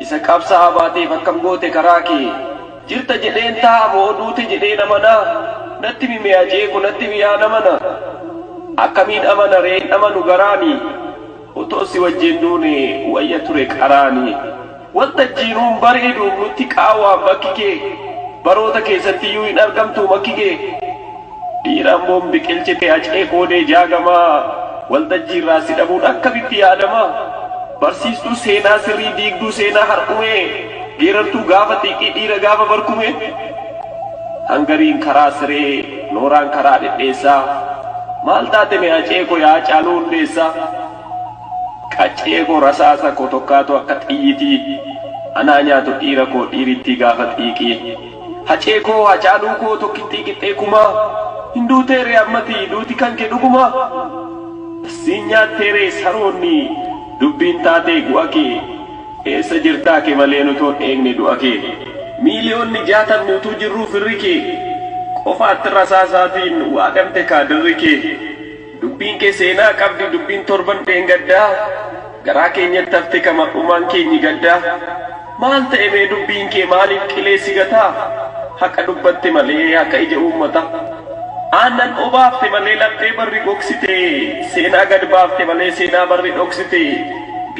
Isa qabsa'aa baateef akkam goote karaa kee? Jirta jedheen taa'a moo duute jedheen amana? Natti himi mee ajee ko natti himi yaa nama na. Akkamiin amana ree hin amanu garaani. Otoo si wajjin duune wayya ture qaraani. Waltajjii nuun bareedu nutti qaawwaan bakki kee. Baroota keessattiyyuu hin argamtuu makki kee. Dhiira Amboon biqilchite Hacee Koodee Jaagamaa waltajjiirraa si dhabuun akkamitti yaadama? Barsiistuu seenaa sirrii diigduu seenaa har'umee geerartuu gaafa xiiqii dhiira gaafa barkumee hangariin karaa siree nooraan karaa dhedheessaa maal taate mee Hacee koo yaa Hacaaluu hundeessaa qaccee koo rasaasa koo tokkaatu akka xiyyitii anaa nyaatu dhiira koo dhiirittii gaafa xiiqii. Hacee koo Hacaaluu koo tokkittii qixxee kumaa Hin duutee ree ammati duuti kan kee dhugumaa Siin nyaattee ree saroonni dubbiin taatee gu'a kee Eessa jirtaa ke malee nutoon eegne du'a kee Miiliyoonni jaatamni utuu jirruu firri kee Qofaatti rasaasaatiin waadamte kaadirri kee. Dubbiin kee seenaa qabdi dubbiin torban dheengaddaa Garaa keenyatti hafte ka mar'umaan keenyi gaddaa Maal ta'e mee dubbiin kee maaliif qilee si gataa Haqa dubbatte malee haqa ija uummataa Aannan obaafte malee laphee barri gogsite Seenaa gad baafte malee seenaa barri dhoksite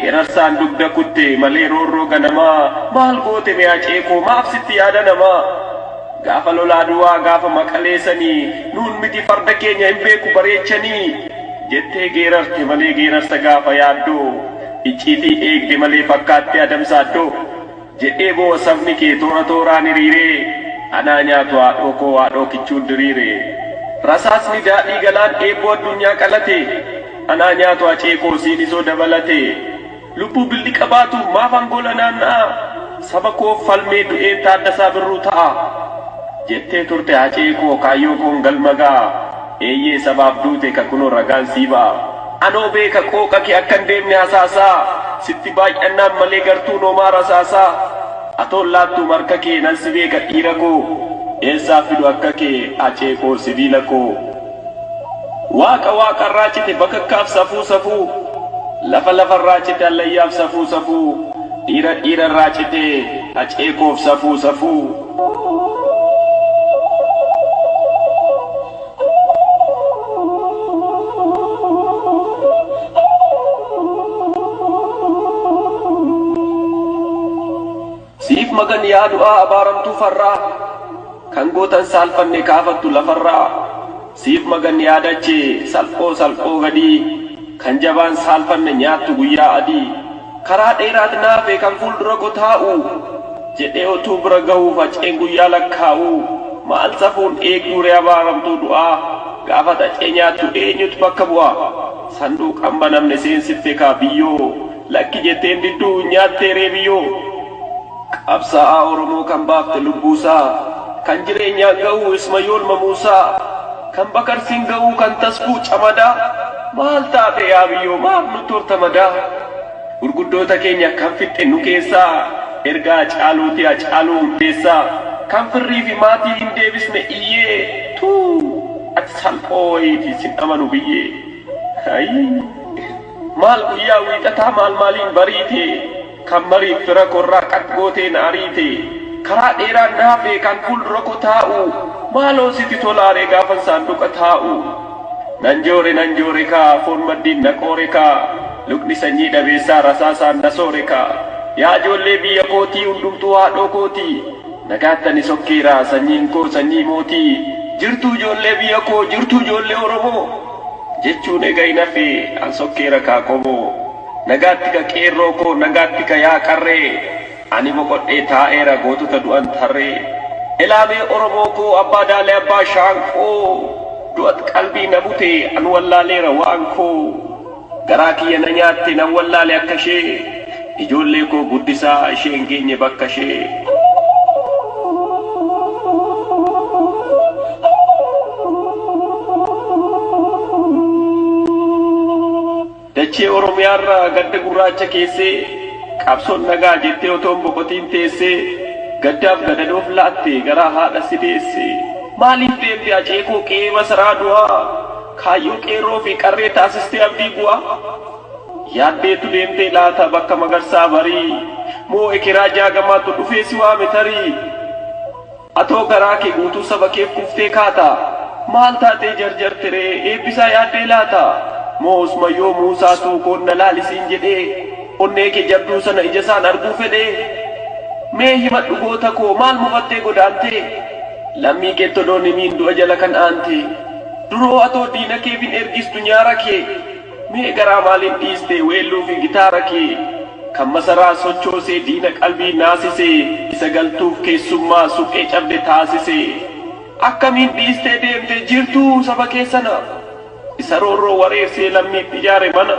Geerarsaan dugda kutte malee roorroo ganamaa Maal goote mee hacee koo maaf sitti yaada namaa Gaafa lola Adwaa gaafa Maqalee sanii nuun miti farda keenya hin beeku bareechanii jettee geerarte malee geerarsa gaafa yaaddoo icciitii eegde malee fakkaatti Adam Saaddoo jedhee boo'a sabni kee toora tooraan hiriiree anaa nyaatu haadhoo koo haadhoo kichuun diriire rasaasni daadhii galaan eebboo addunyaa qalate anaa nyaatu hacee koo siinisoo dabalate Lubbuu billiqa baatu maaf angola naanna'aa saba koof falmee du'een Taaddasaa Birruu ta'a jettee turte Hacee koo kaayyoo koon galma ga'a eeyyee sabaaf duute ka kunoo ragaan sii ba'a anoo beeka qooqa kee akkan deemne hasaasaa sitti baay'annaan malee gartuun homaa rasaasaa atoon laattuum harka kee nan si beeka dhiira koo eessaa fidu akka kee Hacee koo sibiila koo. Waaqa waaqarraa cite bakakkaaf safuu safuu Lafa lafarraa cite hallayyaaf safuu safuu Dhiira dhiirarraa cite hacee koof safuu safuu. Siif magan yaa du'aa abaaramtuu farraa Kan gootan saalfanne kaafattu lafarraa Siif magan yaa dachee salphoo salphoo gadii Kan jabaan saalfanne nyaattu guyyaa adii Karaa dheeraat naafe kan fuuldurakoo taa'u Jedhee otuu bira gahuu faceen guyyaa lakkaa'u Maal safuun eegduuree abaaramtuu du'aa Gaafa xacee nyaattu eenyutu bakka bu'aa Sanduuqa hin banamne seensiftekaa biyyoo Lakki jettee hin diddu nyaattee reebiyyoo Qabsaa'aa Oromoo kan baafte lubbuusaa Kan jireenyaan ga'uu Ismayool Mamuusaa Kan Bakarsiin ga'uu kan Tasfuu Camadaa Maal taate yaa biyyoo maaf nutti horta madaa Gurguddoota keenya kan fixxe nu keessaa Erga Hacaaluutii Hacaaluu Hundeessaa Kan firrii fi maatii hin deebisne iyyee Tuu ati salphoo wayiiti sin amanu biyyee Ayii. Maal guyyaa wiixataa maal maaliin bariite Kan mariif fira korraa qaq gootee na ariite Karaa dheeraan na hafee kan fuuldura ko taa'u Maaloo siti tolaaree gaafan saanduqa taa'u Nan joore nan joore kaa foon maddiin na qoore kaa Lukni sanyii dhabeessaa rasaasaan na soore kaa Yaa joollee biyya kootii hundumtuu haadhoo kooti Nagaatti ani sokkeera sanyiin koo sanyii mootii Jirtuu joollee biyya koo jirtuu joollee oromoo jechuun ega hin hafee an sokkeera kaa qomoo Nagaatti ka qeerroo koo nagaatti ka yaa qarree Ani boqodhee taa'eera gootota du'an tarree Elaa mee oromoo koo abbaa daalee abbaa shaanqoo Du'at qalbii na bute an wallaaleera waan koo Garaa kiyya na nyaatte nan wallaale akka ishee Ijoollee koo guddisaa ishee hin geenye bakka ishee. Dachee Oromiyaarra gadda gurraacha keessee qabsoon nagaa jettee otoo hin boqotiin teessee gaddaaf gadadoof laatte garaa haadha si deesse. Maaliif deemte Hacee koo qe'ee masaraa du'aa kaayyoo qeerroo fi qarree taasistee abdii bu'aa. Yaaddeetu deemtee laata bakka magarsaa barii Moo ekeraa jaagamaatu dhufee si waame tarii Atoo garaa kee guutuu saba keef kuuftee kaata Maal taatee jarjarte ree eebbisaa yaaddee laata Moo osma yoo muusaa suukoon na laali siin jedhee Onnee kee jabduu sana ijasaan arguu fedhee Mee himadhu goota koo maal mufattee godaantee Lammii keetti odoo hin himiin du'a jala kan aantee Duroo atoo diina keef hin ergistu nyaara kee Mee garaa maaliif dhiiste weelluu fi gitaara kee Kan masaraa sochoosee diina qalbii naasise Isa galtuuf keessummaa suphee cabde taasise Akkamiin dhiistee deemte jirtuu saba kee sana Isa roorroo wareersee lammiif ijaare mana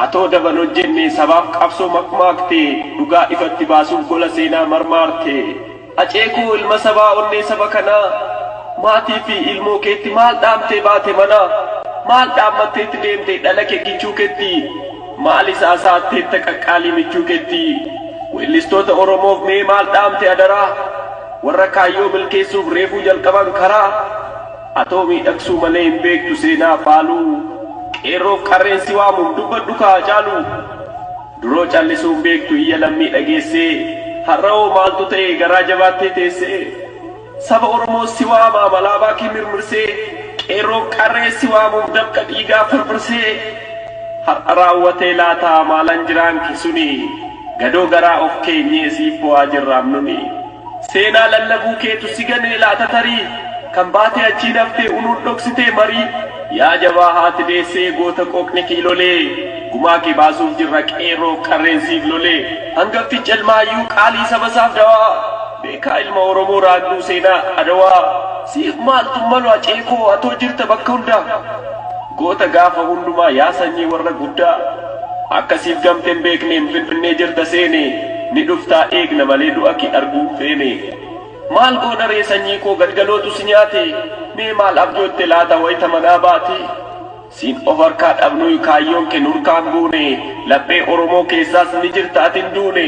Atoo daba hin hojjenne sabaaf qabsoo makmaakte Dhugaa ifatti baasuuf gola seenaa marmaarte Hacee koo ilma sabaa onnee saba kanaa Maatii fi ilmoo keetti maal dhaamtee baate manaa Maal dhaammatteetti deemte dhala kee kichuu keetti Maalis haasa'atteetta qaqqaalii michuu keetti Weellistoota Oromoof mee maal dhaamte adaraa Warra kaayyoo milkeessuuf reefuu jalqaban karaa Atoo miidhagsuu malee hin beektu seenaa faaluu Qeerroof qarreen si waamuun dubbadhu kaa Hacaaluu. Duroo callisuu hin beektu iyya lammii dhageessee Har'awoo maaltu ta'e garaa jabaattee teessee Saba Oromoo si waama malaabaa kee mirmirsee Qeerroof qarree si waamuuf dafqa dhiigaa firfirsee Har'a raawwatee laata maalan jiraan ke suni Gadoo garaa of keenyee siif boo'aa jirraam nuni. Seenaa lallabuu keetu si ganee laata tarii Kan baatee achiin haftee unuun dhoksitee marii Yaa jabaa haati deessee goota qooqni kee lolee Gumaa kee baasuuf jirra qeerroof qarreen siif lolee Hangafti Calmaayyuu qaalii saba isaaf dawaa Beekaa ilma Oromoo raagduu seenaa Adawaa Siif maaltu malu hacee koo atoo jirta bakka hundaa Goota gaafa hundumaa yaa sanyii warra guddaa. Akka siif gamte hin beekneen finfinnee jirta seene Ni dhuftaa eegna malee du'a kee arguu hin feene Maal goona ree sanyii koo gadgalootu si nyaate Mee maal abjootte laata wayta manaa baate Siin of harkaa dhabnuy kaayyoon kee nurkaa hin buune Laphee oromoo keessaas ni jirta ati hin duune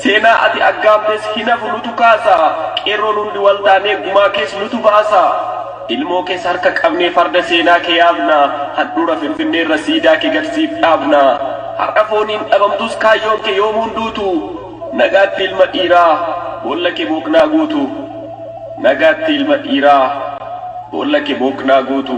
Seenaa ati aggaamtes hin hafu nutu kaasa Qeerroon hundi wal taanee gumaa kees nutu baasa Ilmoo kees harka qabnee farda seenaa kee yaabna, handhuura Finfinneerra siidaa kee gad siif dhaabna. Har'a fooniin dhabamtus kaayyoon kee yoomuu hin duutu. Nagaatti ilma dhiiraa, boolla kee booqnaa guutu. Nagaatti ilma dhiiraa, boolla kee booqnaa guutu.